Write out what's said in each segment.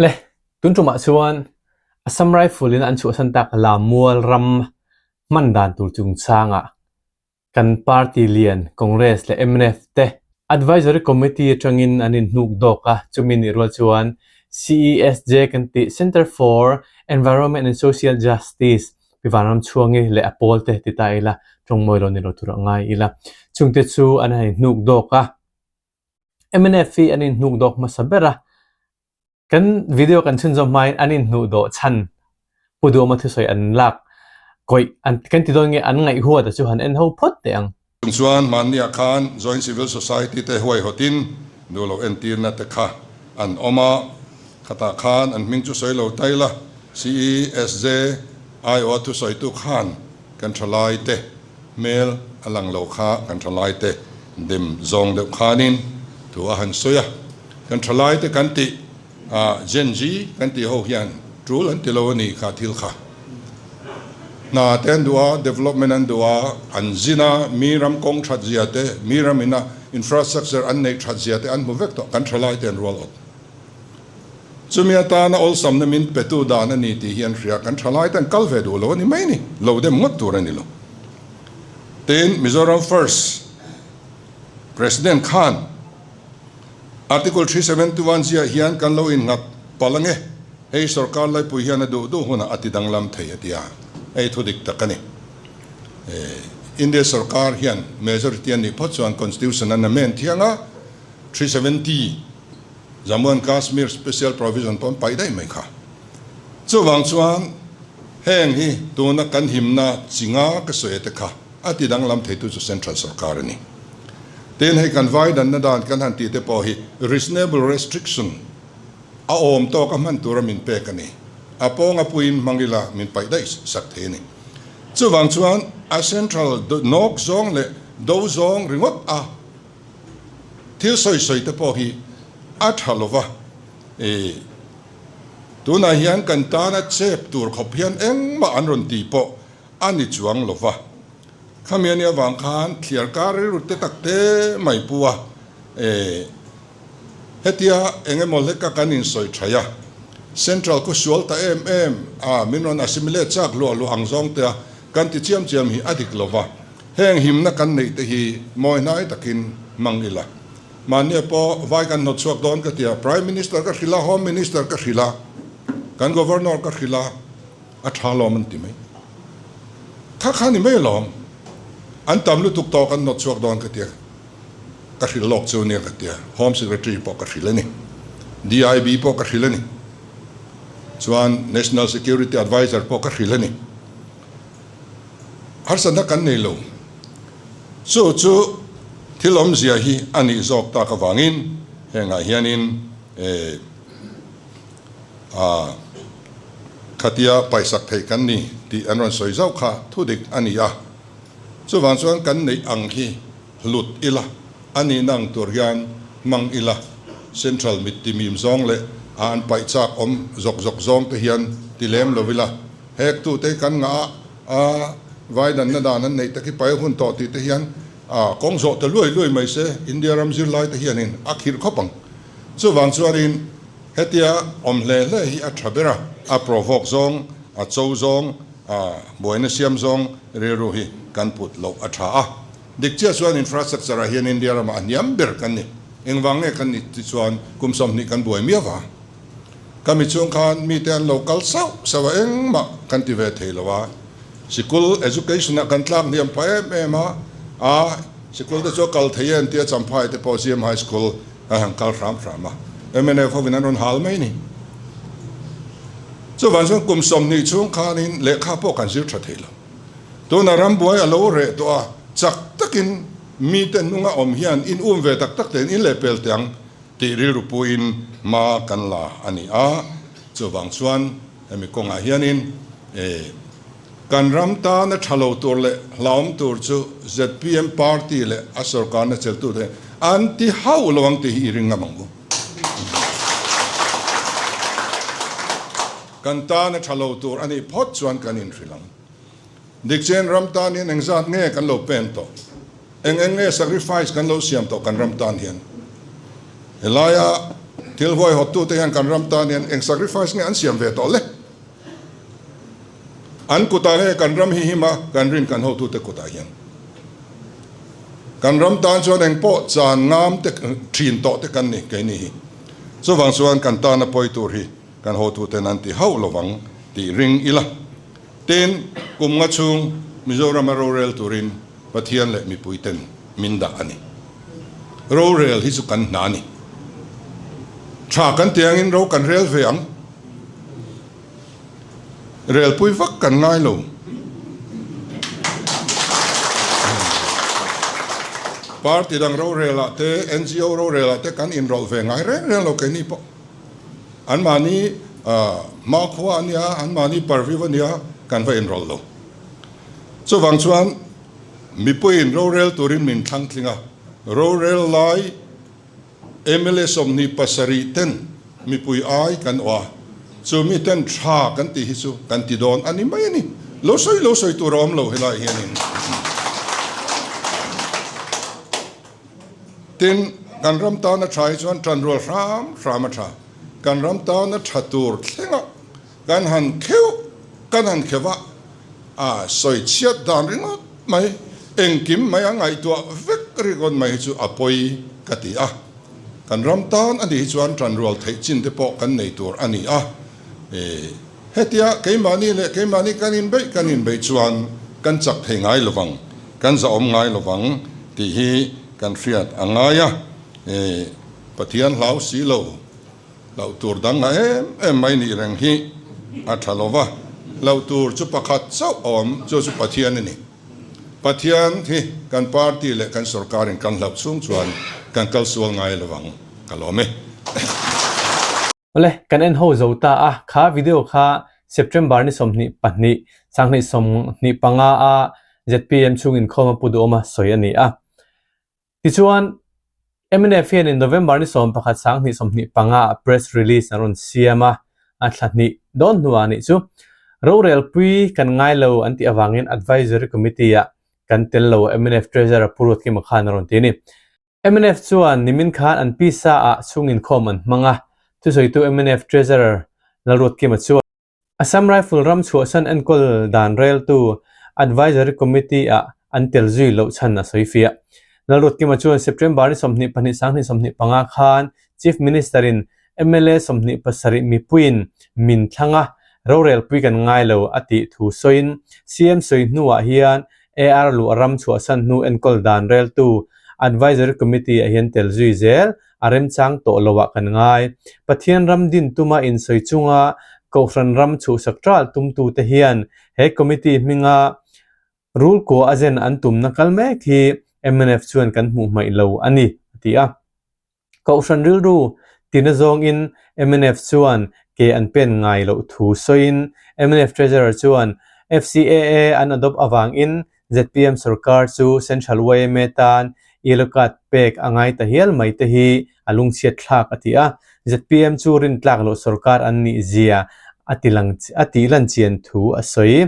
Le, tun ṭumah chuan Assam Rifle in an chhuahsan tak Lamual ram hman dan tur chungchangah kan party lian Congress leh mnf te Advisory Committee aṭangin an inhnuk dawk a, chumi nih rual chuan CESJ kan tih Centre for Environment and Social Justice pi vanram chhuang i leh a pawl te ti ta ila ṭawngmawi lo ni lo tur a ngai ila chungte chu an han inhnuk dawk a. mnf hi an inhnuk dawk hmasa ber a, kan video kan chhun zawm hmain an inhnuh dawh chhan Pu Duama thusawi an lak kawih an kan ti dawn nge an ngaih huat a chu han en ho phawt teh ang. Chung chuan mahniah khan Joint Civil Society te huaihotin duhloh entirna te kha an awm a, khatah khan an hming chu sawi lo ta ila, CESJ, IO a thusawitu khan kan tha lai te. hmel a lang lo kha kan thalaite dem zawng deuh khanin thu a han sawi a, kan thalaite kan tih ah Gen Z kan tih ho hian tul an ti lo a ni kha thil kha hna te an duh a, development an duh a, an zin a, mi ram kawng that zia te, mi ram ina infrastructure an neih that zia te an hmu vek tawh kan thalaite an rual awt. Chumi atana awlsamna min petu dan a ni tih hi an hria. Kan thalai ten kal ve duh lo a ni mai ni, lo dem ngawt tur a ni lo. Tiin Mizoram First President khan Article three seventy one ziah hian kan lo innghat palh ang e, hei sorkar laipui hian a duh duh hunah a ti danglam thei a tia, hei thu dik tak a ni. India sorkar hian majority an nih phawt chuan Constitution an amend thiang a, three seventy Jammu and Kashmir Special Provision pawh an paih daih mai kha. Chuvang chuan heng hi tuna kan himna chi nga ka sawi ate kha a ti danglam thei tu chu Central Sorkar a ni. Tin, hei kan vai danna dan kan han tihte pawh hi reasonable restriction a awm tawka hman tura min pek a ni. A pawng a puiin hmang ila min paih daih sak thei a ni. Chuvang chuan a Central Nawk zawng leh Do zawng ringawt a Thil sawi sawi te pawh hi a tha lo va i, tunah hian kan tana chep tur khawp hian engmah an rawn ti pawh a ni chuang lo va. Khami ania vang khan thliar kar rilru te tak te mai pu a, hetia eng emaw hle ka kan in sawi thai a, Central khaw sual ta em em a, min rawn assimilate chak luah luah ang zawng te a kan ti chiam chiam hi a dik lo va. Heng himna kan neih te hi mawi hnai takin hmang ila. Mahnia pawh vai kan hnawt chhuak dawn ka tia, Prime Minister ka hrilh a, Home Minister ka hrilh a, kan Governor ka hrilh a, a tha lawm an ti mai. Tha kha ni mai lawm, an tam lutuk tawh kan hnawt chhuak dawn ka tia, ka hrilh lawk chu nia ka tia, Home Secretary pawh ka hrilh a ni, DIB pawh ka hrilh a ni, chuan National Security Advisor pawh ka hrilh a ni. Harsa na kan nei lo. Chu chu thil awmzia hi a nih zawk tak avangin hengah hianin eeh khatia paisak theih kan ni tih an rawn sawi zauh kha thudik a ni a. Chuvang chuan kan neih ang hi. Hlut ila, a nihna ang tur hian hmang ila, central mit timim zawng leh a an paih chak awm zawk zawk zawng te hian ti lem lo ila, hek tu te hi kan ngah a, a vai natna dan an neih tak hi pail hun tawh tih te hian a kawng zawh ta luai luai mai se India ram zirlai te hianin a khirh khawp ang. Chuvang chuanin hetia awm hle hle hi a tha ber a, a provoke zawng, a cho zawng, a buaina siam zawng rilru hi kan put loh a tha a. Dik chiah chuan infrastructure ah hian India ramah a hniam ber kan ni. Engvang nge kan nih tih chuan kum sawmhnih kan buai miau va. Ka mi chung khan mite an lo kal sauh sauh a engmah kan ti ve thei lo a. Sikul, education, ah kan tlak hniam pha em em a, a sikul te chu a kal thei em tia Champhai te pawh CM High School a han kal hram hram a. Mnf hovin an rawn hal mai ni. Chuvang chuan kum sawmhnih chung khanin lehkha pawh kan zir tha thei lo. Tunah rambuai a lo reh tawh a, chak takin mite hnung a awm hian in um ve tak tak te'n in leh pel teh ang tih rilru puiin hma kan la a ni a. Chuvang chuan hemi kawngah hianin kan ram tana tha lo tur leh hlauhawm tur chu zpm party leh a sorkarna cheltute an ti hauh lo ang tih hi i ring ngam ang u. Kan tan a tha lo tur a nih phawt chuan kan inhrilh ang. Dikchen ram tanin engzat nge kan lo pen tawh? Eng eng nge sacrifice kan lo siam tawh kan ram tan hian? Helaia thil huaihauptute hian kan ram tan hian eng sacrifice nge an siam ve tawh le? An kutah nge kan ram hi him a, kan rin kan hotute kutah hian? Kan ram tan chuan engpawh chan ngam te, thin tawh te kan ni, keini hi. Chuvang chuan kan tan a pawi tur hi. Kan hotu ten an ti hauh lo vang tih ring ila. Ten, kum nga chhung Mizoram-a rorel turin Pathian leh mipui ten min dah a ni. Rorel hi chu kan hna a ni. Tha kan ti angin ro kan rel ve ang. Relpui vak kan ngai lo. Party dang rorel ah te, NGO rorel ah te kan inrawlh ve ngai reng reng lo kei ni pawh. An mahni hma khua a nia, an mahni par viau a nia, kan va inrawlh lo. Chuvang chuan mipuiin rorel turin min thlangtling a, rorel lai mla sawmhnih pasarih ten mipui ai kan awh a, chu miten tha kan tih hi chu kan ti dawn a ni mai a ni. Lo sawi lo sawi tur a awm lo helai hianin. Tin, kan ram tan a tha hi chuan tanrual hram hram a tha. Kan ram tan a tha tur thlengah kan han kheuh, kan han khevah a sawi chhiat dan ringawt mai, engkim mai a ngaihtuah vek ringawt mai hi chu a pawi ka ti a. Kan ram tan a nih hi chuan tanrual theih chinte pawh kan nei tur a ni a. Hetia keimahni leh keimahni kan inbeih kan inbeih chuan kan chak thei ngai lovang, kan zahawm ngai lovang tih hi kan hriat a ngai a ni. Pathian hlau si lo, hlauh tur dang a em em mai nih reng hi a tha lo va, hlauh tur chu pakhat chauh a awm, chu chu Pathian a ni. Pathian hi kan party leh kan sorkar in kan hlauh chhung chuan kan kal sual ngai lovang ka lawm e. Awle, kan en ho zo ta a, kha video kha September ni sawmhnih pahnih, sanghnih sawmhnih panga a zpm chhung inkhawm a pu duhawm a sawi a ni a. Tichuan, mnf hianin November ni sawm pakhat sanghnih sawmhnih panga a press release an rawn siam a, a thla hnih dawn hnuah a nih chu. Rorelpui kan ngai lo an tih avangin Advisory Committee-ah kan tel lo, mnf Treasurer Pu Ruathkima khan a rawn ti a ni. Mnf chuan nimin khan an pisa ah chhunginkhawm an hmang a, chu sawitu mnf Treasurer Lalruatkima chuan. Assam Rifle ram chhuahsan enkawl dan reltu Advisory Committee ah an tel zui loh chhan a sawi fiah. Lalruatkima chuan September ni sawmhnih pahnih sang hnih sawmhnih panga khan Chief Minister in Mla sawmhnih pasarih mipuiin min thlang a, rorelpui kan ngai lo a tih thu sawiin CM sawi hnuah hian AR luah ram chhuahsan hnu enkawl dan reltu Advisory Committee ah hian tel zui zel a remchang tawh lo ah kan ngai. Pathian ram din tuma insawi chunga Kohhran ram chhuhsak tal tumtu te hian he committee hminga rulkuah a zen an tumna kal mek hi mnf chuan kan hmuh hmaih lo a ni, a ti a. Kohhran rilru tina zawngin mnf chuan ke an pen ngai loh thu sawiin mnf treasurer chuan FCAA an adopt avangin zpm sawrkar chu Central yma tan yellow card pek a ngai ta hial mai te hi a lungchhiatthlak a ti a, zpm chu rintlak loh sawrkar an ni zia a ti a tihlan chian thu a sawi.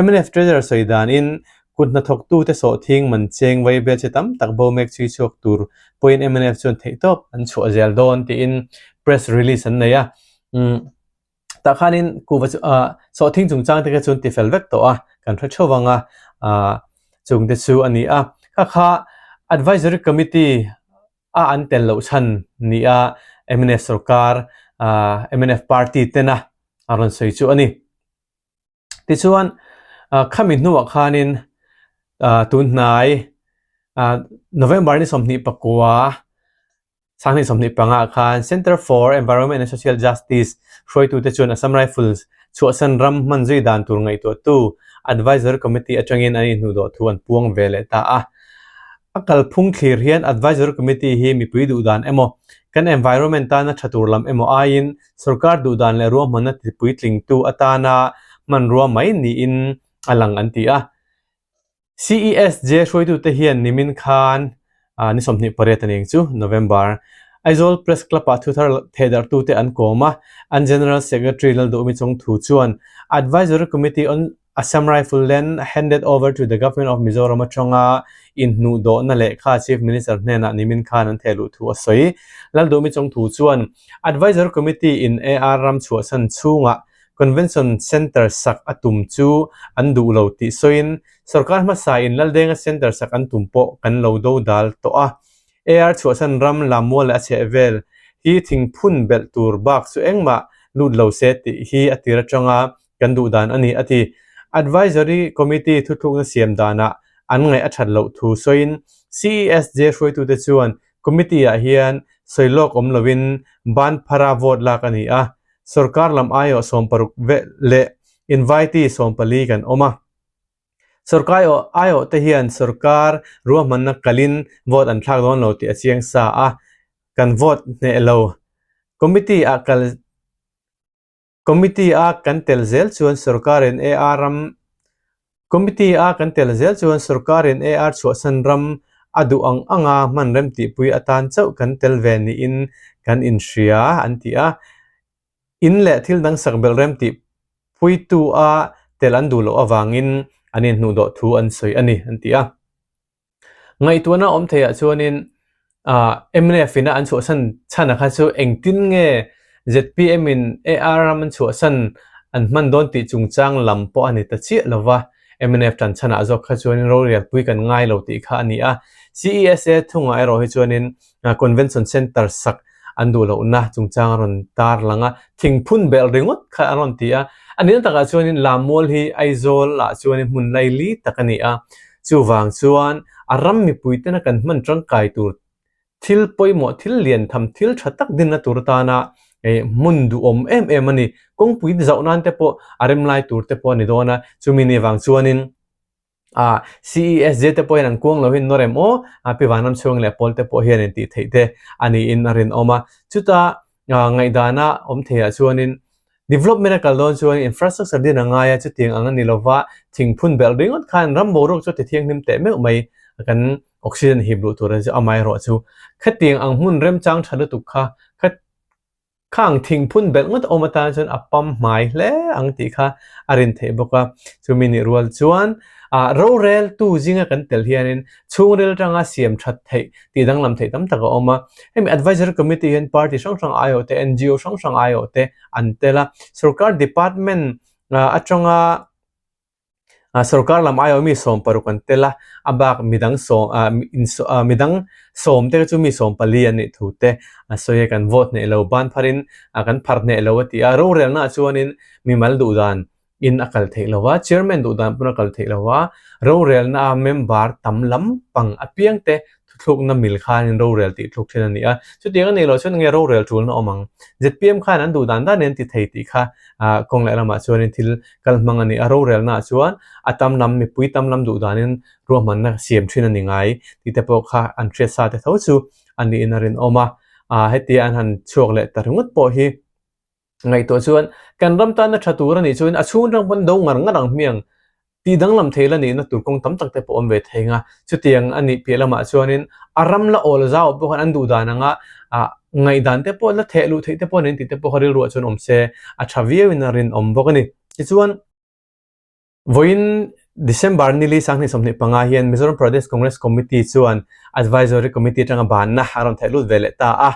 Mnf treasurer sawi danin Kut hnathawktu te sawh thing man cheng vei bia che tam tak bo mek chhui chhuak tur pawhin mnf chuan theihtawp an chhuah zel dawn tiin press release an nei a. Tah khanin kuhva sawh thing chungchang te kha chuan ti fel vek tawh a, kan hre theuh ang a, chung te chu a ni a. Kha kha Advisory Committee a an tel loh chhan ni a mnf sorkar, mnf party tena a rawn sawi chu a ni. tichuan khami hnuah khanin tunhnai November ni sawmhnih pakua sanghnih sawmhnih panga khan Center for Environment and Social Justice hruaitu te chuan Assam Rifles chhuahsan ram hman zui dan tur ngaihtuah tu Advisory Committee atangin an inhnuh dawh thu an puang ve leh ta a a kalphung thlir hian Advisory Committee hi mipui duhdan emaw kan environment tana tha tur lam emaw aiin Sorkar duhdan leh ruahmanna tlipui tlingtu atana hmanrua mai niin a lang an ti a. CESJ hruaitute hian nimin khan ni sawmhnih pariat anih ang chu, November, Aizawl Press Club-ah thu thar thehdarhtute an kawm a, an General Secretary Lalduhmi Chawngthu chuan Advisory Committee on Assam Rifle Len handed over to the Government of Mizoram atanga inhnuh dawhna lehkha Chief Minister hnenah nimin khan an theh luh thu a sawi. Lal duhmi chawngthu chuan Advisory Committee in AR ram chhuahsan chhunga Convention Centre sak a tum chu an duh lo tih sawiin sorkar hmasa in Laldenga Centre sak an tum pawh kan lo do dal tawh a. AR chhuahsan ram Lammual leh a chhehvel hi thingphun belh tur bak chu engmah lut lo se tih hi a tir atanga kan duh dan a ni, a ti. Advisory Committee thuthlukna siam danah an ngaih a that loh thu sawiin CESJ hruaitute chuan Committee ah hian sawi lawk awm loin ban phara vote lak a ni a, sorkar lam aiawh sawm paruk velh leh invitee sawm pali kan awm a. Sorkai aiawh te hian sorkar ruahmanna kalhin vote an thlak dawn lo tih a chiang sa a, kan vote hneh lo Committee ah kal Committee a kan tel zel chuan sorkar in AR ram Committee a kan tel zel chuan sorkar in AR chhuahsan ram a duh ang anga hman remtihpui atan chauh kan tel ve niin kan inhria an ti a. In leh thil dang sak belh remtihpuitu a tel an duh loh avangin an inhnuhdawh thu an sawi a ni an ti a. Ngaihtuahna awm theiah chuanin mnf ina an chhuahsan chhana kha chu engtin nge zpm in AR ram an chhuahsan an hman dawn tih chungchang lam pawh a ni ta chiah lo va, mnf tan chhanah zawk kha chuanin rorelpui kan ngai lo tih kha a ni a. CESA thungah erawh hi chuanin Convention Centre sak an duh loh na chungchang a rawn tar lang a, thing phun belh ringawt kha a rawn ti a. A nihna takah chuanin lam mual hi Aizawlah chuanin hmun lai li tak a ni a, chuvang chuan a ram mipui tena kan hman tangkai tur thil pawimawh thil lian tham thil tha tak dinna tur atana hmun duhawm em em a ni. Kawngpui zauh nan te pawh a rem lai tur te pawh a ni dawn a, chumi ni vang chuanin, a ces zia te pawhin an kuang lo hin nawrem aw a pi vanram chhung leh pawl te pawh hian in tih theih te a ni in a rinawm a chuta ngaidana awm thei ah chuan in development a kal dawn chuan infrastructure din a ngai a chutiang ang a ni lo va thing phun belh ringawt khan ram bo ruak chu ti thiang hlim teh meuh mai a kan oxygen hip luh tur a mai erawh chu khatiang ang hmun remchang tha lutuk kha khat Khang thing phun belh ngawt awm atan chuan a pam hmai hle ang tih kha a rin theih bawk a. Chumi nih rual chuan a rorel tu zinga kan tel hianin chhungrel tanga siam that theih tih danglam theih tam tak a awm a. Hemi advisory committee hian party hrang hrang aiawh te, NGO hrang hrang aiawh te an tel a. Sorkar department aṭanga Sorkar lam aiawh mi sawm paruk an tel a, a bak midang sawm ah midang sawm te chu mi sawm pali an nih thu te a sawi a, kan vote hneh lo banphar in kan phar hneh lo a ti a, rorelna ah chuan in mi mal duh dan in a kal theih lo a, chairman duh dan pawh a kal theih lo a, rorelna a member tam lam pang apiang te Thuthlukna mil khanin rorel tihthluk thin a ni a. Chutiang a nih loh chuan enge rorel tulna awm ang? Zpm khan an duh dan dan in tithei tih kha kawng leh lamah chuanin thil kal hmang a ni a. Rorelnaah chuan a tam lam, mipui tam lam duh danin ruahmanna siam thin a ni ngai tih te pawh kha an hriatsa te tho chu a niin a rinawm a. Hetia an han chhuak leh ta ringawt pawh hi Ngaihtuah chuan, kan ram tana tha tur a nih chuan a chhung tang pawn do ngar ngar ang hmiang, tih danglam thei la nihna tur kawng tam tak te pawh awm ve thei nga. Chutiang a nih piah lamah chuanin a ram la awl zau pawh khan an duh dan ang a, ah ngaih dan te pawh la theh luh theih te pawh an en tih te pawh kha rilruah chuan awm se, a tha viau in a rinawm bawk a ni. Tichuan. Vawiin December nili sanghnih sawmhnih panga hian Mizoram Pradesh Congress Committee chuan Advisory Committee atanga banna a rawn theihlut ve leh ta a.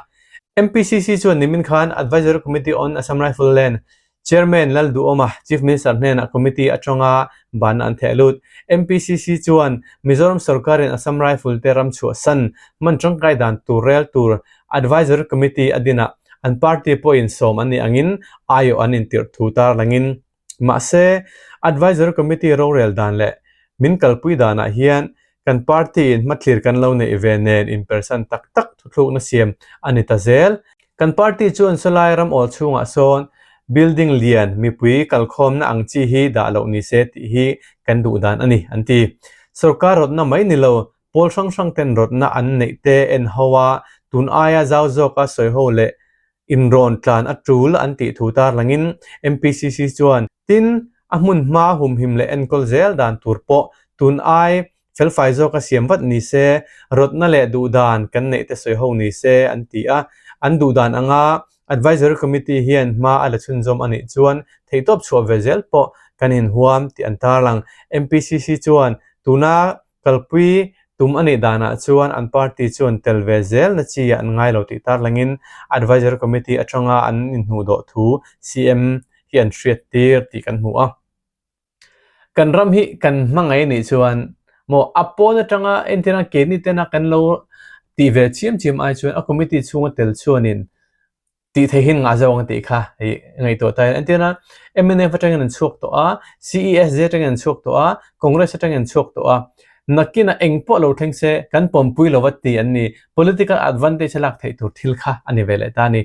MPCC chuan nimin khan Advisory Committee on Assam Rifleland Chairman Lal Duhoma Chief Minister hnenah committee atanga banna an theihlut. MPCC chuan Mizoram sorkarin Assam Rifle te ram chhuahsan man tangkai dan tur rel tur Advisory Committee a dinah an party pawhin sawm an nih angin aiawh an intirh thu tarlangin Mahse, Advisory Committee rorel dan leh min kalpui danah hian kan party-in hmathlir kan lo neih ve nen inpersan tak tak thuthlukna siam a ni ta zel. Kan party chuan Salai ram awl chhungah sawn building lian mipui kalkhawmna ang chi hi dah loh ni se tih hi kan duh dan a ni, an ti. Sorkar rawtna mai ni lo Pawl hrang hrang ten rawtna an neih te en ho a, tun aia zau zawk a sawi ho leh inrawn tlan a tul an tih thu tar langin MPCC chuan tin a hmun hma humhim leh enkawl zel dan tur pawh tun ai felfai zawk a siam vat ni se, rawtna leh duhdan kan neih te sawi ho ni se an ti a. An duhdan anga Advisory Committee hian hma a la chhunzawm a nih chuan theihtawp chhuah ve zel pawh kan inhuam tih an tarlang. MPCC chuan tuna Kalpui tum a nih danah chuan an party chuan tel ve zel na chi an ngai lo tih tarlangin Advisory Committee atanga an inhnuh dawh thu CM hi an hriat tir tih kan hmu a. Kan ram hi kan hmangaih nih chuan maw a pawn atanga entir ang ke ni tena kan lo tih ve chiam chiam ai chuan a committee chhunga tel chuanin tih thei hin ngah zawk ang tih kha hei ngaihtuah ta hian entiana mnf atangin an chhuak tawh a CESJ atangin an chhuak tawh a congress atangin an chhuak tawh a nakina eng pawh lo thleng se kan pawmpui lo a ti an ni political advantage a lak theih tur thil kha a ni ve leh ta ni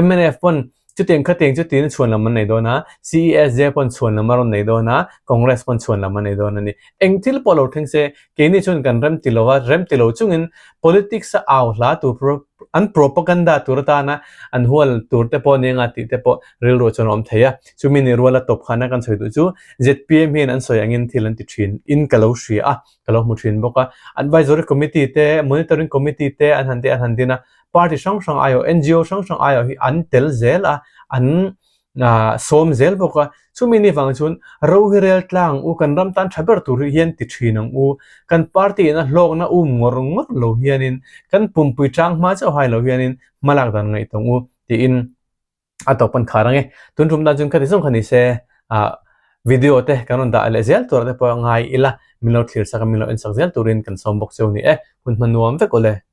mnf pawn chutiang kha tiang chu tin a chhuan lam an nei dawn a CESJ pawn chhuan lam a rawn nei dawn a congress pawn chhuan lam a nei dawn a ni eng thil pawh lo thleng se Keini chuan kan rem ti lo a, rem ti lo chungin politics a au hla tur pro, an propaganda tur atana an hual tur te pawh ni anga tih te pawh rilru chuan a awm thei a. Chumi nih ruala tawp khana kan sawi duh chu zpm hian an sawi angin thil an ti thin in ka lo hria a, ka lo hmu thin bawk a. Advisory committee te, monitoring committee te an han tih a han din a, party hrang hrang aiawh, NGO hrang hrang aiawh hi an tel zel a, an a sawm zel bawk a, chumi ni vang chuan ro hi rel tlang u, kan ram tan tha ber tur hi hian ti thin ang u, kan party in a hlawkna um ngawr ngawr lo hianin kan pumpui chang hma chauh hai lo hianin hma lak dan ngaih tawng u tiin a tawpan khar ang e. Tun tum dan chuan ka ti zawng kha ni se a video te kan rawn dah leh zel tur te pawh a ngai ila min lo thlir sak a min lo en sak zel turin kan sawm bawk cheu a ni e, hun hma nuam vek awle.